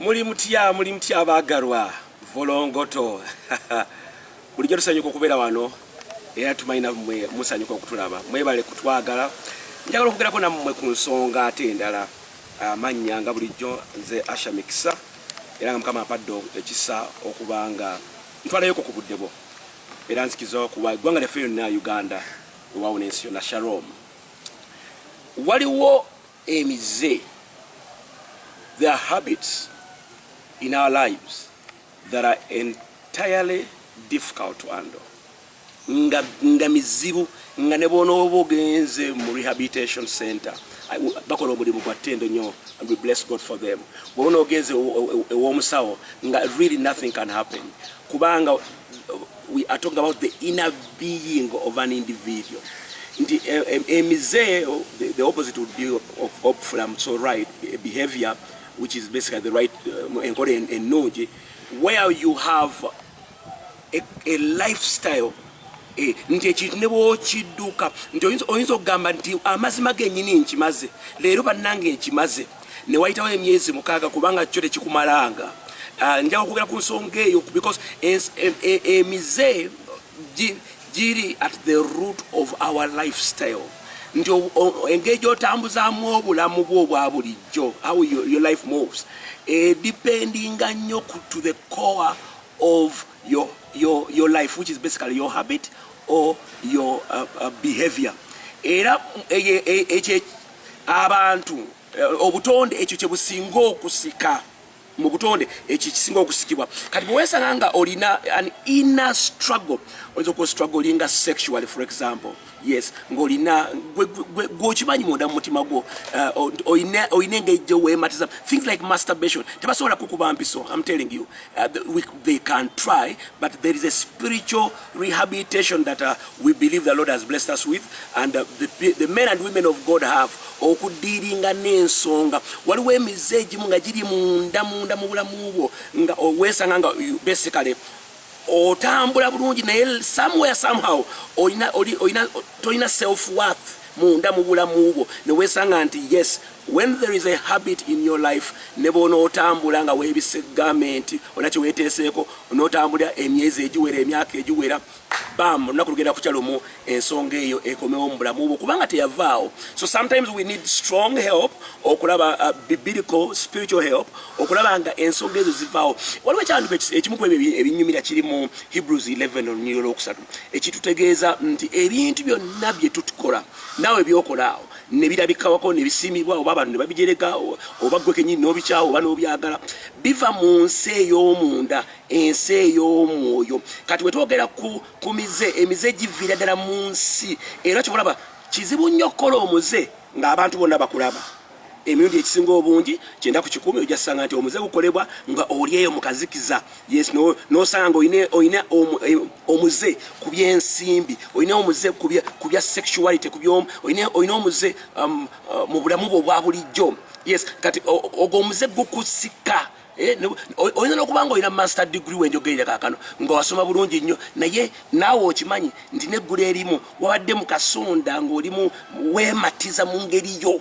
Muli mutya muli mutya abaagalwa volongoto bulijjo tusanyuka okubeera wano era tumanyi nammwe musanyuka okutulaba mwebale kutwagala njagala okwogerako nammwe ku nsonga ate endala amannya nga bulijjo nze asha mikisa era nga mukama ampadde ekisa okubanga ntwalayoko ku budde bwo era nzikiza okuwa eggwanga lyaffe lyonna uganda ewaawo n'ensi yonna shalom waliwo emize there are habits in our lives that are entirely difficult to handle nga, nga mizibu nga ne bwonooba ogenze mu rehabilitation center bakola omulimu gwa ttendo nyo and we bless god for them bwona ogenze ew'omusawo nga really nothing can happen kubanga we are talking about the inner being of an individual nti eh, eh, emize eh, the opposite would be opflam so right behavior which is basically the right enkola ennungi where you have a, a lifestyle nti ekintu ne bwokidduka nti oyinza okugamba nti amazima genyini nkimaze leero bannange nkimaze ne wayitawo emyezi mukaaga kubanga kyo tekikumalanga ah, nja okwogera ku nsonga eyo because e, e, emize giri at the root of our lifestyle nti engeri gyotambuzaamu obulamu bwo obwa bulijjo how your life moves edependinga eh, nnyo to the core of your, your, your life which is basically your habit or your uh, uh, behavior era eh, eh, abantu eh, obutonde ekyo kye businga okusika mu butonde ekyo kisinga okusikibwa kati bwewesanga nga olina an inner struggle oyinza okuba strugglinga sexually for example yes ng'olina gwokimanyi munda mu mutima gwo uh, olina engeri gye weematiza things like masturbation tebasobola kukuba mpiso am telling you uh, they can try but there is a spiritual rehabilitation that uh, we believe the Lord has blessed us with and uh, the, the men and women of God have okudiiringa n'ensonga waliwo emize egimu nga giri munda munda mu bulamu bwo nga weesanga nga basically otambula bulungi naye somewhere somehow olina olina tolina self worth munda mu bulamu bwo ne weesanga nti yes When there is a habit in your life ne bw'onootambula nga weebise gamenenti olina kye weeteeseeko onootambulira emyezi egiwera emyaka egiwera bam olunaku lugenda kukya lumu ensonga eyo ekomewo mu bulamu bwo kubanga teyavaawo so sometimes we need strong help okulaba uh, biblical spiritual help okulaba nga ensonga ezo zivaawo waliwo ekyanduko ekimu ku ebyo ebinyumira kiri mu hebrews 11 olunyiriro lwokusatu ekitutegeeza nti ebintu byonna bye tutukola naawe byokolaawo ne birabikawako ne bisiimibwa oba abantu ne babijerega oba ggwe kennyini n'obikyawo oba n'obyagala biva mu nsi ey'omunda ensi ey'omwoyo kati bwe twogera ku ku mize emize giviira ddala mu nsi era kyobalaba kizibu nnyo okukola omuze ng'abantu bonna bakulaba emirundi ekisinga obungi kyenda ku kikumi ojasanga nti omuze gukolebwa nga oli eyo mukazikiza yes no nosanga oyine oyine eh, omuze kubye nsimbi oyine omuze kubye kubya sexuality kubyo oyine oyine omuze um, uh, mu bulamu bwo bwa bulijjo yes kati ogo omuze gukusika eh, oyina no kubanga oyina master degree wenjo geira kakano ngo wasoma bulungi nnyo naye nawo okimanyi ntine gure elimu wabadde mu kasonda ngo olimu wematiza mu ngeri yo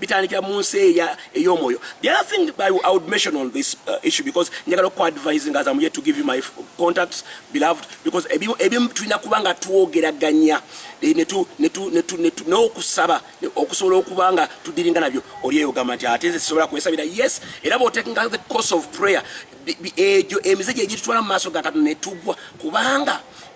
bitandikira mu nsi eya ey'omwoyo the other thing I, I would mention on this uh, issue because njagala oku advising as I'm here to give you my contacts beloved because ebimu ebimu tulina kuba nga twogeraganya eh, netu netu netu netu n'okusaba okusobola okuba nga tudiringa nabyo oli eyo gamba nti ate nze sisobola kwesabira yes era bw'otekinga the course of prayer egyo emize gye gitutwala mu maaso ga katonda ne tugwa kubanga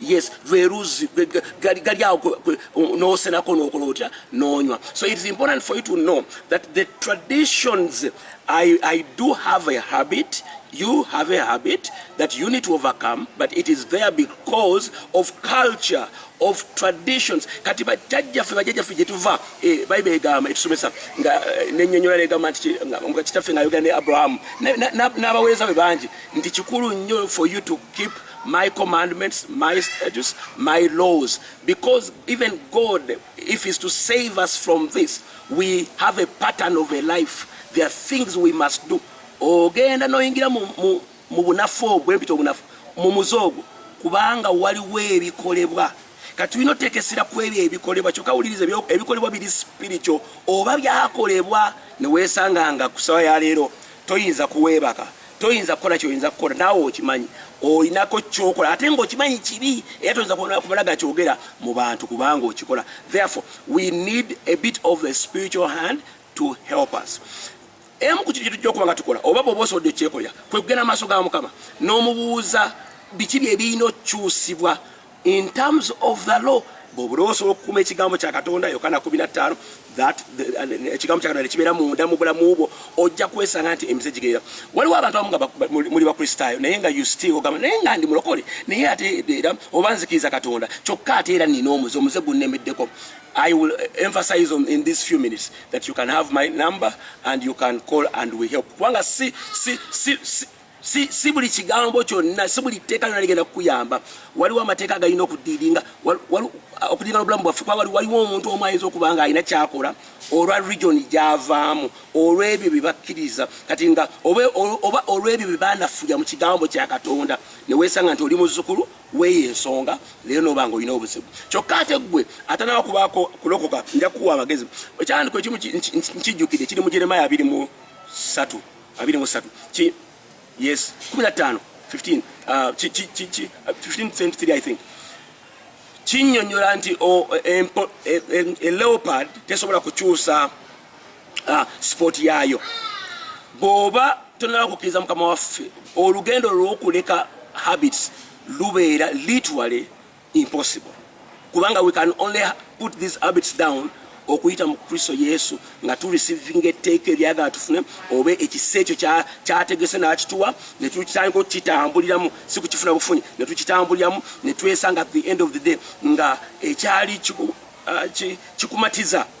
yes lwe luzzi gali awo n'osenako n'okola otya n'onywa so it is important for you to know that the traditions I, i do have a habit you have a habit that you need to overcome but it is there because of culture of traditions kati bajjaffe bajjaffe gyetuva eh, bible egamba etusomesa nga eh, nenyonyola negamba nti kitaffe nga yogera ne abrahamu n'abaweereza be bangi nti kikulu nnyo for you to keep my commandments, my statutes, my laws. Because even God, if He's to save us from this, we have a pattern of a life. There are things we must do. ogenda noyingira mu bunafu obwo empita obunafu mu muze ogwo kubanga waliwo ebikolebwa kati tulina oteeka essira ku ebyo ebikolebwa kyokka wuliriza ebikolebwa biri spiritual oba byakolebwa ne weesanga nga ku sawa ya leero toyinza kuweebaka toyinza kukola kyoyinza kukola naawe okimanyi olinako kyokola ate nga okimanyi kibi era toyinza kumala ga kyogera mu bantu kubanga okikola therefore we need a bit of the spiritual hand to help us emu ku kintu kyetujja okuba nga tukola oba bwoba osobodde okyekolera kwe kugenda maaso ga mukama n'omubuuza biki bye birina okukyusibwa in terms of the law bwobula osobola okukuuma ekigambo kya katonda yokana 15 that uh, ekigambo kya katonda kibeera munda mu bulamu bwo ojja kwesanga nti emize gigerera waliwo abantu abamu nga muli bakristaayo naye nga usti ogamba naye nga ndi mulokole naye ate era oba nzikiriza katonda kyokka ate era nina omuze omuze gunnemeddeko I will uh, emphasize on in these few minutes that you can have my number and you can call and we help. Wanga si si si, si si, si buli kigambo kyonna si buli tteeka lyona ligenda kukuyamba waliwo amateeka agalina okudiidinga okudiinga nobulamu bwaffe kuba waliwo omuntu omu ayinza okuba nga alina kyakola olwa region gyavaamu olw'ebyo bye bakkiriza kati nga oba olw'ebyo bye banafuya mu kigambo kya katonda ne weesanga nti oli muzzukulu weeyo ensonga leero nooba nga olina obuzibu kyokka ate ggwe atanawa kubaako kulokoka nja kukuwa amagezi ekyandiko ekimu nkijjukidde kiri mu jeremaya abiri mu satu abiri mu satu ki yes kumi na ttaano 15 uh, ki ki ki ki 1523 uh, i think kinyonyola nti o empo e, e, e leopard tesobola kukyusa uh, sport yayo boba tonaba kukiriza mukama waffe olugendo lwokuleka habits lubeera literally impossible kubanga we can only put these habits down okuyita mu kristo yesu nga turisivinga etteeka eryagala tufune oba ekisa ekyo kyategese n'akituwa netukitandika okukitambuliramu si kukifuna bufunyi netukitambuliramu netwesanga at the end of the day nga ekyali uh, kikumatiza uh,